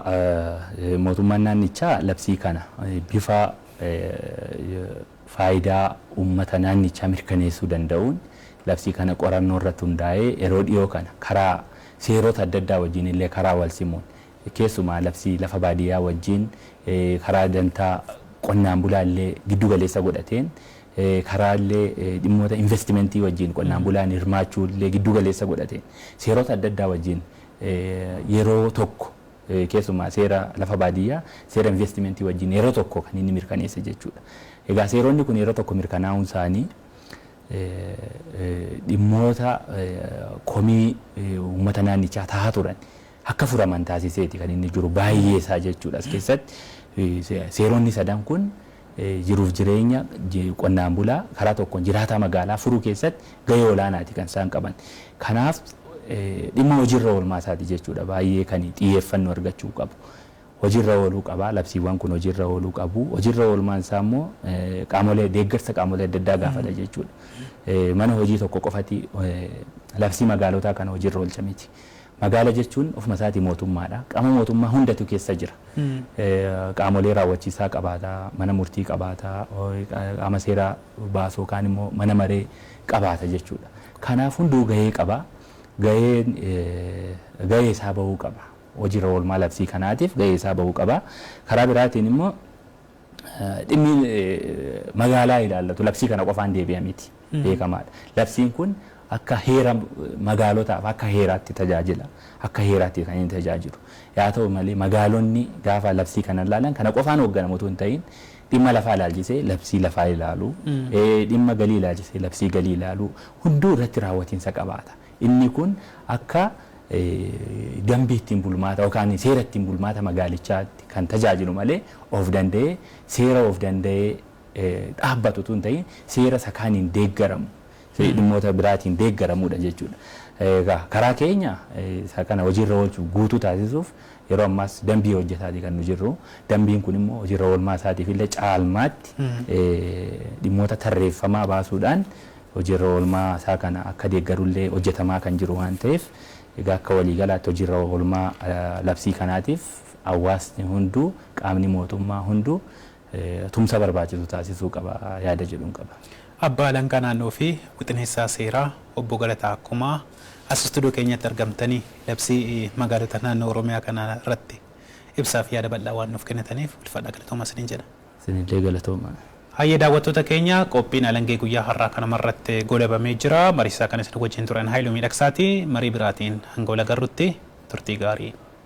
mootummaan naannichaa labsii kana bifa faayidaa uummata naannichaa mirkaneessuu danda'uun labsii kana qorannoo irratti hundaa'ee yeroo dhiyoo kana karaa seerota adda addaa wajjin illee karaa wal simuun Keessumaa labsii lafa baadiyyaa wajjin karaa dantaa qonnaan bulaa illee giddu galeessa godhateen karaa illee dhimmoota investimentii wajjin qonnaan bulaan hirmaachuu illee giddu galeessa godhateen seerota adda addaa wajjin yeroo tokko keessumaa seera lafa baadiyyaa seera investimentii wajjin yeroo tokko kan inni mirkaneesse jechuudha. Egaa seeronni kun yeroo tokko mirkanaa'uun isaanii dhimmoota komii uummata naannichaa tahaa turan akka furaman taasiseeti kan inni jiru baay'ee isaa jechuudha. As keessatti seeronni sadan kun jiruuf jireenya qonnaan bulaa karaa tokkoon jiraataa magaalaa furuu keessatti gahee olaanaati kan isaan qaban. Kanaaf dhimma hojiirra oolmaa isaati jechuudha baay'ee kan xiyyeeffannoo argachuu qabu. Hojiirra ooluu qaba labsiiwwan kun hojiirra ooluu qabu. Hojiirra oolmaan isaa immoo qaamolee deeggarsa qaamolee adda addaa gaafata jechuudha. Mana hojii tokko qofati labsii magaalotaa kana hojiirra oolcha miti. Magaala jechuun ofuma isaatii mootummaadha. Qaama mootummaa hundatu keessa jira. Qaamolee raawwachiisaa qabaata, mana murtii qabaata, qaama seera baasu yookaan immoo mana maree qabaata jechuudha. Kanaaf hunduu gahee qaba. Gaheen gahee isaa bahuu qaba. Hojiirra oolmaa labsii kanaatiif gahee isaa bahuu qaba. Karaa biraatiin immoo dhimmi magaalaa ilaallatu labsii kana qofaan deebi'a miti. beekamaadha. Labsiin kun akka heera magaalotaaf akka heeraatti tajaajila. Akka heeraatti kan inni tajaajilu. Yaa ta'u malee magaalonni gaafa labsii kana ilaalan kana qofaan hoogganamu utuu hin ta'iin dhimma lafaa ilaalchisee labsii lafaa ilaalu, dhimma galii ilaalchisee labsii galii ilaalu hunduu irratti raawwatiinsa qabaata. Inni kun akka dambii ittiin bulmaata yookaan seera ittiin bulmaata magaalichaatti kan tajaajilu malee of danda'ee seera of danda'ee dhaabbatu utuu hin ta'iin seera isa kaaniin deeggaramu, dhimmoota biraatiin deeggaramuudha jechuudha. Egaa karaa keenya isa kana hojiirra oolchuuf guutuu taasisuuf yeroo ammaas dambii hojjetaati kan nu jirru. Dambiin kun immoo hojiirra oolmaa isaatiif illee caalmaatti dhimmoota tarreeffamaa baasuudhaan hojiirra oolmaa isaa kana akka deeggaru illee hojjetamaa kan jiru waan ta'eef egaa akka waliigalaatti hojiirra oolmaa labsii kanaatiif hawaasni hunduu qaamni mootummaa hunduu tumsa barbaachisu taasisuu qaba yaada jedhun qaba. Abbaa Alangaa Naannoo fi Wixineessaa Seeraa Obbo Galataa Akkumaa as istuudiyoo keenyatti argamtanii labsii magaalota naannoo Oromiyaa kana irratti ibsaa fi yaada bal'aa waan nuuf kennitaniif ulfaadhaa galatoomaa isiniin jenna. Isinillee galatoomaa. Hayyee daawwattoota keenya qophiin Alangee guyyaa har'aa kanuma irratti goolabamee jira. Mariisisaa kan isin wajjin ture an Haayiluu Miidhaksaati. Marii biraatiin hanga wal agarrutti turtii gaarii.